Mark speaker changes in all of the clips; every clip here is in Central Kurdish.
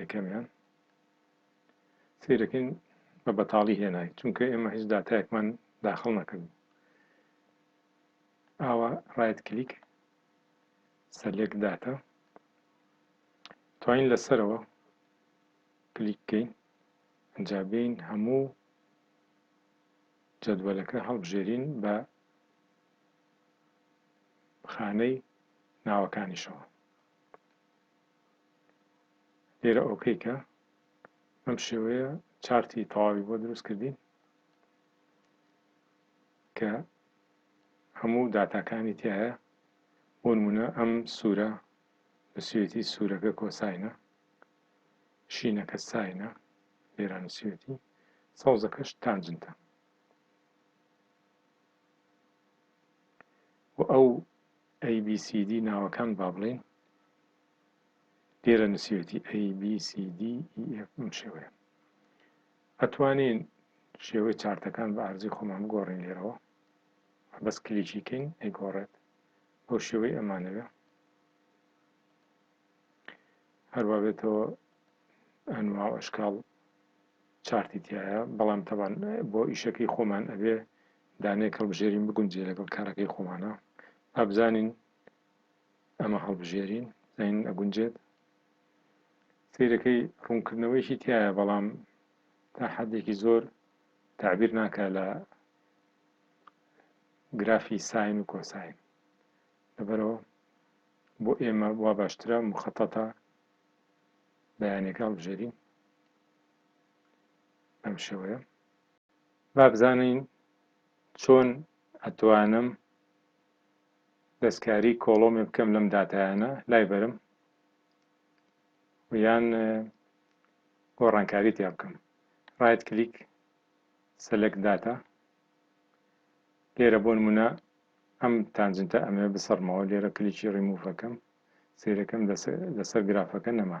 Speaker 1: یەکەمیان سیرەکەین بە بەتاڵی هێنای چونکە ئێمە هیچ داتایەکمان داخل نەکردن ئاوا ڕایت کلیک سەلێک داتا توانین لەسەرەوە کلیک بکەین ئەجا بین هەموو جەدوەلەکە هەڵبژێرین بە خانەی ناوەکانیشەوە لێرە ئۆکەی کە بەم شێوەیە چارتی تەواوی بۆ دروست کردین کە هەموو داتاکانی تایە بۆ نمونە ئەم سوورە نووسیوێتی سوورەکە کۆساینە شینەکە ساینە لێرە نووسیوێتی سەوزەکەش تانجنتە و ئەو ABCD ناوەکان با بڵێین لێرە نووسیوێتی ABCDEF بەم شێوەیە ئەتوانین شێوەی چارتەکان بە ئارزی خۆمان بگۆڕین لێرەوە بەس کلیکی کەین ئەیگۆڕێت بۆ شێوەی ئەمانەوێ هەروە بێتەوە ئەنوا ئەشکاڵ چارتی تایە بەڵام تەوان بۆ ئیشەکەی خۆمان ئەبێ دانەیەک هەڵبژێرین بگونجێ لەگەڵ کارەکەی خۆمانا با بزانین ئەمە هەڵبژێرین زین ئەگونجێت سیرەکەی ڕوونکردنەوەیشی تایە بەڵام تا حدێکی زۆر تعبیر ناکە لە گرافی ساین و کۆساین لەبەرەوە بۆ ئێمە وا باشترە مخەتەتە بەیانەکە هەڵبژێرین بەم شێوەیە با بزانین چۆن ئەتوانم دەستکاری کۆڵۆمێ بکەم لەم داتایانە لای بەرم یان گۆڕانکاری تیا بکەم ڕایت کلیک سەلەک داتا لێرە بۆ نمونە ئەم تانجنتە ئەمێ بسەرمەوە لێرە کلیکی ڕیموڤەکەم سیرەکەم لەسەر گرافەکە نەما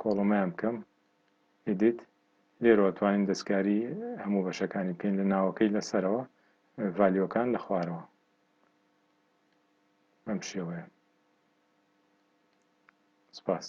Speaker 1: کۆڵۆمیان بکەم Edit لێرەوە توانیم دەستکاری هەموو بەشەکانی بکەین لە ناوەکەی لە سەرەوە ڤالیۆکان لە خوارەوە بەم شێوەیە سپاس.